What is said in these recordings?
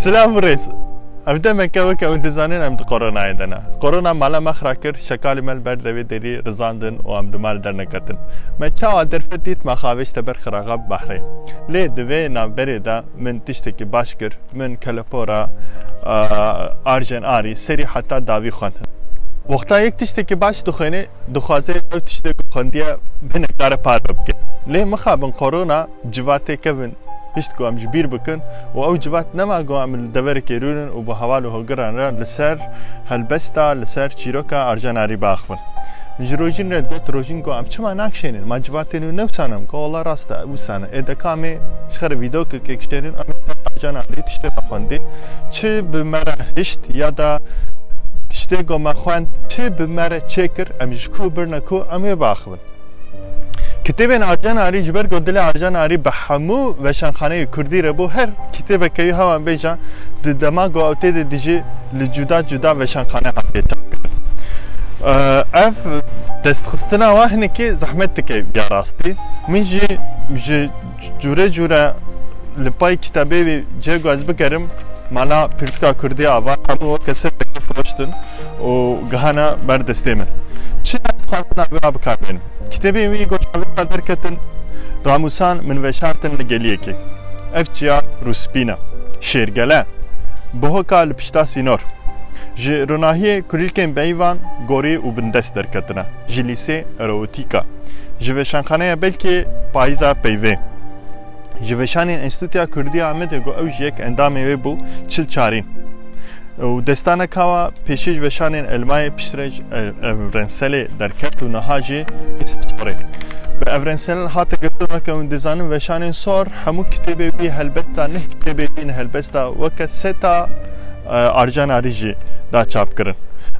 Silam rêz. Ev demeke weke ew dizanin em di koronayê de ne. Korona mala me xira kir, şekalê me li ber devê derî rizandin û em di mal derneketin. Me çawa derfet dît me xavêj teber xiraxa bi behrê. Lê di vê navberê de Min tiştekî baş kir, min kelepora arjen arî, serî heta dawî xwendin. Wexta yek tiştekî baş dixwêne, dixwaze ew tiştê ku xwendiye hinek kare parve bike. Lê mixabin korona civatê kevin pişt ku em ji bîr bikin û ew civat nema ku em li deverekê rûnin û bi heval û hogiran re li ser helbesta, li ser çîroka arjen arî biaxivin. Min ji rojîn re got rojîn got em çima nakişênin ma civatên wî newsanim got wala rast e wisane ê deka em ê ji xerê vîdokekê kişênin em ê bacan alî tiştê me xwendî çi bi me re hişt ya da tiştê got me xwend çi bi me re çêkir em ji ku birne ku em ê biaxivin Kitêbên Arjan Arî ji ber ku dilê Arjan Arî bi hemû veşanxaneyê Kurdî re bû her kitêbeke wî hewan bêjan di dema ku ew tê de dijî li cuda cuda veşanxane hatiye çapkirin. Ev destxistina wan hinekî zehmet dike ya rastî. Min jî ji cûre cûre li pay kitabê wî cih ku ez bikerim mala pirtika kurdî ava hemû weke ser firoştin û gihana ber destê min. Çi destxwazina wî a bikarbênim? Kitêbên wî ku çavêka derketin ramûsan min veşartin li geliyekê. Ev çiya rûspîn e. Şêrgele. Bi hoka li pişta sînor. Ji ronahiyê kulîlkên beyîvan, gorî û bindest derketine. Ji lîsê, erootîka. Ji veşanxaneya belkê, payîza peyvê. Ji veşanên Enstîtûya Kurdî ya Amedê got ew jî yek endamê wê bû çil çarîn. Ew destane kawa pêşî ji veşanên Elmayê piştre ji Evrenselê derket û niha jî Îsa Sorê. Bi Evrensel hate girtin weke hûn dizanin veşanên Sor hemû kitêbê wî helbesta neh kitêbê wî helbesta weke seta arjanarî jî da çap kirin.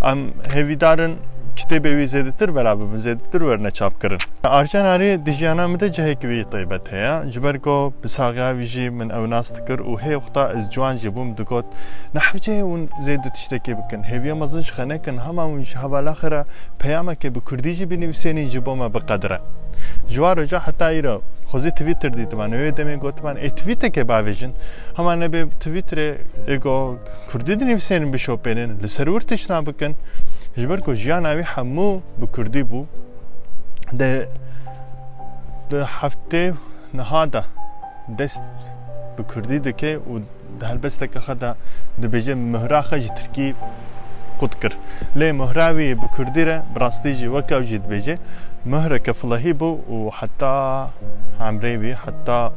Em hêvîdarin kitêbê wî zêdetir vera bibin, zêdetir werne çap kirin. Arjanarî di jiyana min de cihek wî Taybet heye. Ji ber ku bi saxiya wî jî min ew nas dikir û hê wexta ez ciwan jî bûm digot, Nehewceyê hûn zêde tiştekê bikin, hêviya mezin ji xenekin, hema hûn ji hevalaxê re peyamekê bi kurdî jî binivîsênîn ji bo me biqedir e. Ji wan roja heta îro xwezî twîtter dîtiman û wê demê gotiman ê twîtekê bavêjin, hema nebê twîtterê ê ku kurdî dinivîsênin bişopênin, li ser wir tiştna bikin. Ji ber ku jiyana wî hemû bi kurdî bû. Dê. Di heftê niha de dest bi kurdî dike û di helbesteke xwe de dibêje mihra xwe ji tirkî qut kir. Lê mihra wî bi kurdî re bi rastî jî wek ew jî dibêje mihreke filehî bû û heta hemrê wî heta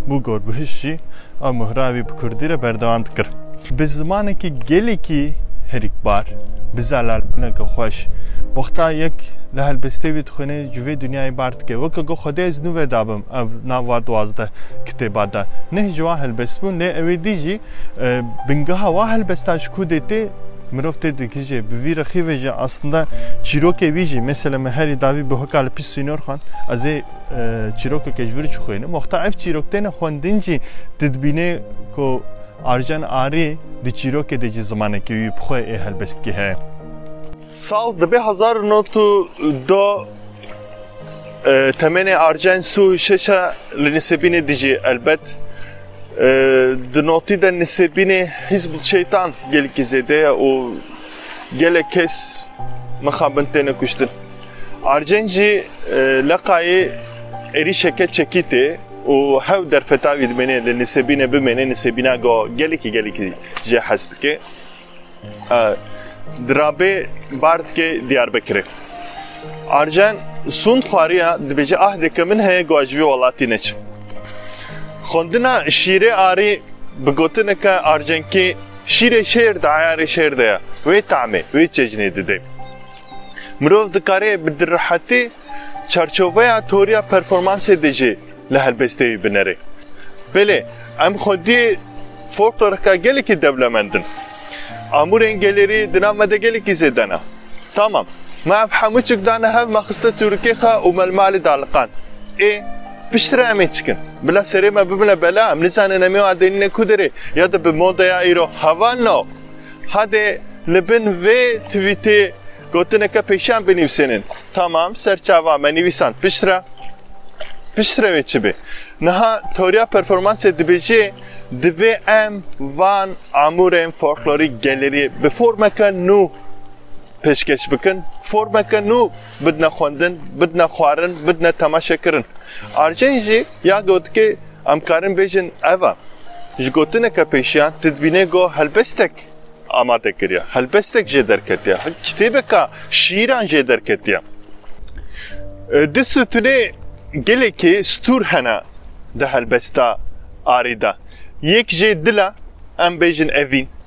Bûgor Guhîş jî ew muhra wî bi kurdî re berdewam dikir. Bi zimanekî gelekî herikbar, bi zelalbûneke xweş, wexta yek li helbestê wî dixwîne ji vê dinyayê bar dike. Weke ku Xwedê ez nûve dabim ev nav va duwazdeh kitêba de. Neh ji wan helbest bûn lê ewê dî jî bingeha wa helbesta ji ku dê tê mirov tê digihije. Bi vî rexîvê jî aslinde çîrokê wî jî, mesela min herî dawî bi hoka li pîş sînor xwend, ez ê. Çîrokeke ji vir çixwînim. Wexta ev çîrok têne xwendin jî tu dibînê ku Arjen Arî di çîrokê de jî zimanekî wî bi xwe ê helbestkî heye. Sal dibe hezar û nod û du temenê Arjen Sû Şeş e li Nisêbînê dijî. Elbet di notî de Nisêbînê Hîzb Şeytan gelekî zêde ye û Gelek kes mixabin têne kuştin. Arcên jî e, leqayê êrîşeke çekî tê û hew derfeta wî dimêne li nisêbîne bimêne nisêbîna go gelekî gelekî jê hez dike. E, Dirabê bar dike Diyarbekirê. Arjen sund xwariya dibêje ah dike min heye go ji vê welatî neçim. Xwendina şîrê arî bi gotineke arjenkî Şîrê şêr di eyarê şêr de ye, wê tamê, wê çejnê dide. Mirov dikare bi dirrihetî çarçoveya teoriya performansê de jî li helbesteyî binere. Belê, em xwedî folkloreka gelekî dewlemend in. Amûrên gelêrî di nav me de gelekî zêde ne. Tamam, me ev hemû çik dane hev, me xiste tûrikê xwe û me li malê de aliqand. Ê! Piştre em ê çikin? Bila serê me bibine bela, em nizanin em ê adênîne ku derê ya di bi modeya îro heval no. Hadê li bin vê twîtê gotineke pêşiyan binivîsênin. Tamam, serçava me nivîsand piştre. Piştre wê çi bê? Niha teoriya performansê dibêje divê em van amûrên folklorîk gelerî bi formeke nû pêşkeş bikin, formeke nû bidne xwendin, bidne xwarin, bidne temaşekirin. Arjen jî ya gotikê em karin bêjin ev e. Ji gotineke pêşiyan tu dibînê got helbestek amade kiriye, helbestek jê derketiye, kitêbeka şîîran jê derketiye. Di situnê gelekî stûr hene di helbesta arê de. Yek jê dil e, em bêjin evîn.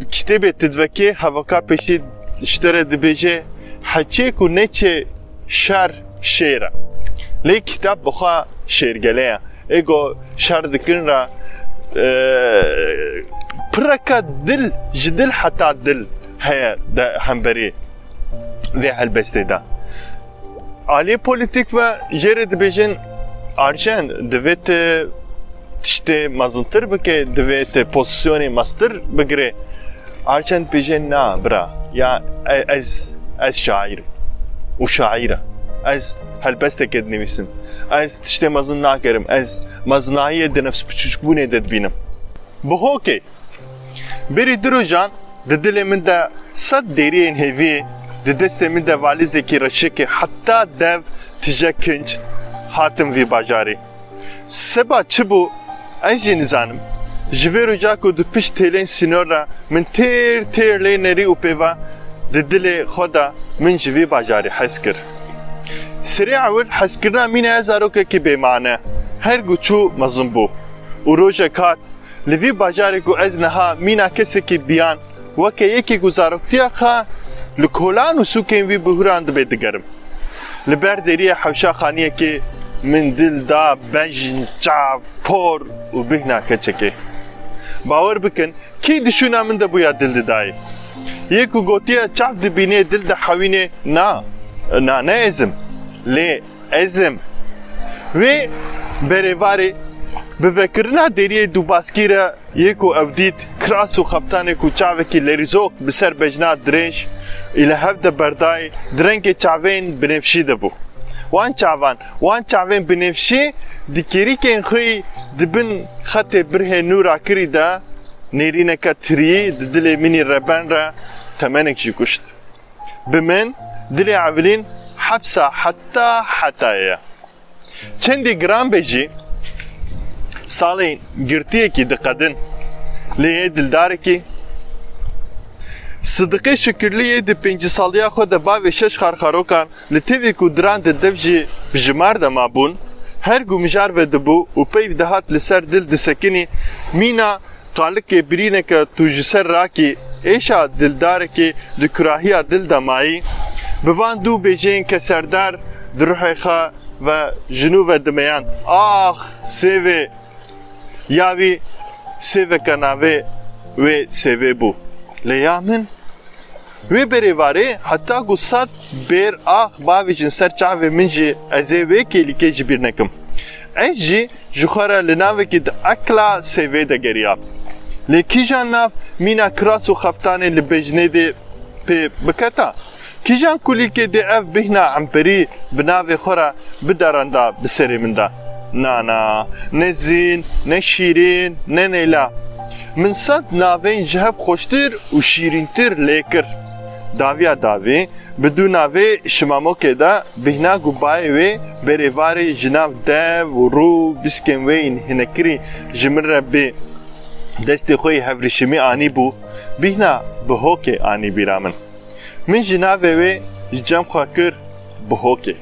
Di kitêbê Tidvekê Hevaka Pêşî ji te re dibêje heçê ku neçe şer şêr e. Lê kitêb bi xwe şêrgele ye. Ê ku şer dikin re pireke dil ji dil heta dil heye hemberî vê helbestê de. Aliyê polîtîk ve jê re dibêjin arjen divê tu tiştê mezintir bikê, divê tu pozîsyonê mestir bigirê. Arjen dibêje na bira ya ez ez şaîr im û şaîr e. Ez helbesteke dinivîsim. Ez tiştê mezin nakirim. Ez mezinayiyê di nefsbiçûkbûnê de dibînim. Bi hokê Berî du rojan di dilê min de sed dêriyên hêvî, di destê min de valîzekî reşikî heta dev tije kinc hatim vî bajarê. Seba çi bû ez jî nizanim. Ji vê roja ku di pişt hêlên sînor re min têr têr lê nerî û pêva di dilê xwe de min ji vî bajarê hez kir. Serê ewil hezkirina mîna ye zarokekî bêmane. Her ku çû mezin bû û rojek hat Li vî bajarê ku ez niha mîna kesekî biyan weke yekê ku zaroktiya xwe li kolan û sûkên wî bihûran dibe digerim. Li ber deriyê hewşa xaniyekê min dil da bejn, çav, por û bihna keçekê. Bawer bikin kî di şûna min de bûya dil didayê. Yê ku gotiye çav dibînê dil dihewînê na, na ne ezim. Lê Ez im. Wê berê varê bi vekirina deriyê Dûbaskî re yê ku ew dît kiras û xeftanê ku çavekî lêrîzok bi ser bejna dirêj î li hev de berdayê di rengê çavên binêfşî de bû. Wan çavan, wan çavên binêfşî di kêrîkên xwe yî di bin xetê birhê nû rakirî de nêrîneke tiriyî di dilê min î reben re temenek jî kuşt. Bi min dilê Evilîn hepsa heta hetayê ye. Çendî giran be jî salê girtiyekî diqedin lê yê dildarekî Sidiqê Şukirlî yê di pêncî saliya xwe de bavê şeş xarxarokan Li tevî ku diran di dev jî bi jimar de mabûn, her ku mijar vedibû û peyv dihat li ser dil disekinî, mîna qalikê birîneke tu ji ser rakî, êşa dildarekî di kurahiya dil de mayî, bi van dû bêjeyên keserdar di ruhê xwe ve ji nû ve dimeyan, Ax! Sêvê! Ya wî sêveke navê wê sêvê bû, lê ya min? Wê berê varê heta ku sed bêr ax bavêjin ser çavê min jî ez ê wê kêlîkê ji bîr nekim. Ez jî ji xwe re li navekî di ekla sêvê de geriya. Lê kîjan nav mîna kiras û xeftanê li bêjinê dê pê biketa? Kîjan kulîlkê dê ev bîhna emperî bi navê xwe re bideranda bi serê min de? Na na, ne zîn, ne şîrîn, ne neyla. Min sed navên ji hev xweştir û şîrîntir lê kir. Daviya davî bi du navê Şimamokê de bîhna ku bayê wê berê varê ji nav dev û rû bîskên wê yên hinekirî ji min re bê destê xwe yê hevrîşimî anîbû bîhna Bihokê anî bîra min. Min jî navê wê ji cem xwe kir Bihokê.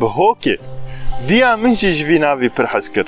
Bihokê! Diya min jî ji vî navî pir hez kir.